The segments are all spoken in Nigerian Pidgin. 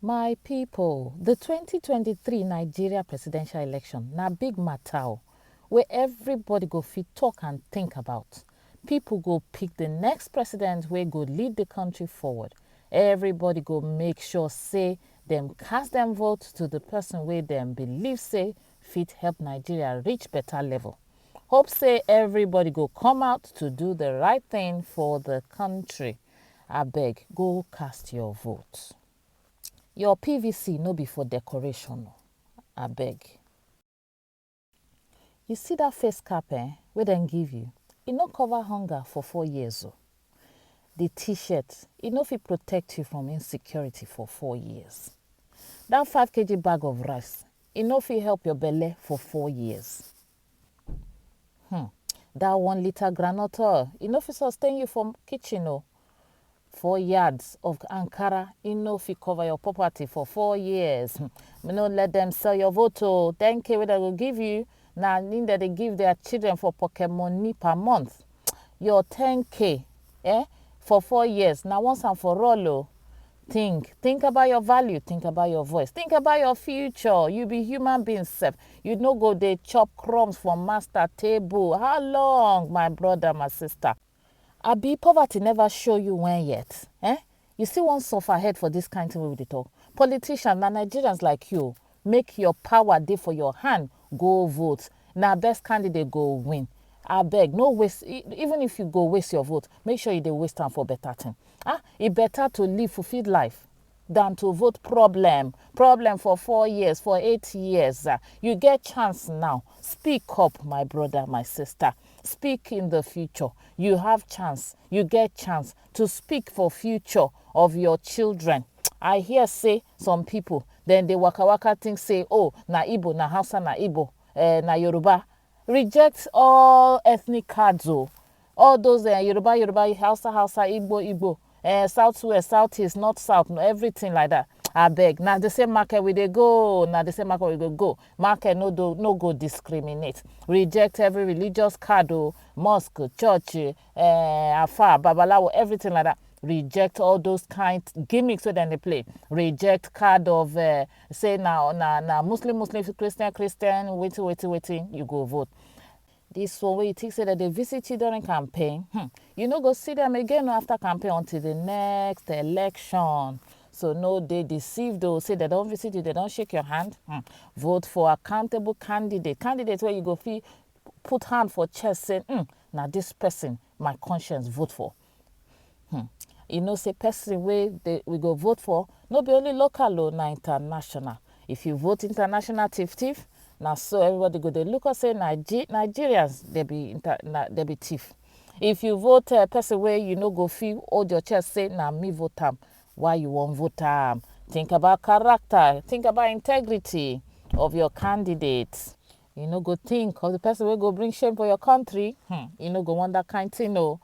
My people, the twenty twenty three Nigeria presidential election na big matter o wey everybody go fit talk and think about. People go pick the next president wey go lead the country forward. Everybody go make sure say dem cast dem vote to the person wey dem believe say fit help Nigeria reach better level. Hope say everybody go come out to do the right thing for the country. Abeg go cast your vote. Your pvc no be for decoration o, abeg. You see that face cap eh, wey dem give you, e no cover hunger for four years o. The t-shirt, e no fit protect you from insecurity for four years. That five kg bag of rice, e no fit help your belle for four years. Hmm. That one liter groundnut oil, e no fit sustain you for kitchen o. Four yards of Ankara, e no fit cover your property for four years. Hmm. Me no let them sell your vote o. 10k wey dem go give you, na im dem dey give their children for pocket money per month. Your 10k eh, for four years, na once and for all o. Think, think about your value, think about your voice, think about your future. You be human being self. You no go dey chop crumbs for master table. How long, my brother, my sister? Abi poverty never show you when yet. Eh? You still wan suffer head for this kind thing wey we dey talk. Politicians na Nigerians like you. Make your power dey for your hand go vote na best candidate go win abeg no waste even if you go waste your vote make sure you dey waste am for better thing ah e better to live fulfilled life than to vote problem problem for four years for eight years ah you get chance now speak up my brother my sister speak in the future you have chance you get chance to speak for future of your children i hear say some people dem dey waka waka think say oh na igbo na hausa na igbo eh, na yoruba reject all ethnic cards o all those eh, yoruba yoruba hausa hausa igbo igbo eh, south west south east north south no everything like that abeg na the same market we dey go na the same market we go go market no do no go discriminate reject every religious card o mosque church eh, eh, afar, babalawo, everything like that. Reject all those kind gimmicks wey dem dey play. Reject card of uh, say na na na Muslim Muslim Christian Christian wetin wetin wetin you go vote. This one wey you think say dem dey visit you during campaign, hmm, you no go see them again after campaign until the next election. So no dey deceived o say dem don visit you, dem don shake your hand. Hmm. Vote for accountable candidate, candidate wey you go fit put hand for chest say um na this person my conscience vote for. Um you know say person wey dey we go vote for no be only local o na international. If you vote international thief thief na so everybody go dey look us say Nige Nigerians dey be inter na dey be thief. If you vote um person wey you no go fit hold your chest say na me vote am why you wan vote am think about character think about integrity of your candidate. You no go think of the person wey go bring shame for your country. Hmm, you no go want that kind thing o.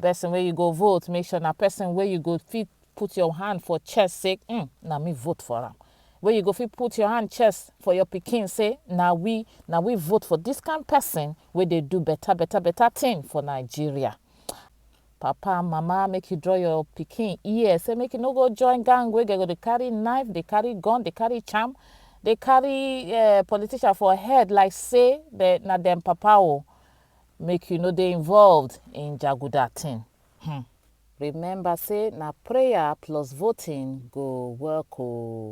Person wey you go vote, make sure na person wey you go fit put your hand for chest say, hmm, na me vote for am. Wey you go fit put your hand chest for your pikin say, na we, na we vote for this kind person wey dey do better, better, better thing for Nigeria. Papa and mama make you draw your pikin ear say make you no go join gang wey go dey carry knife, dey carry gun, dey carry charm, dey carry eh, politician for head like say na dem papa o. Oh. Make you no dey involved in jaguda thing. Hmm. Remember say na prayer plus voting go work o. Oh.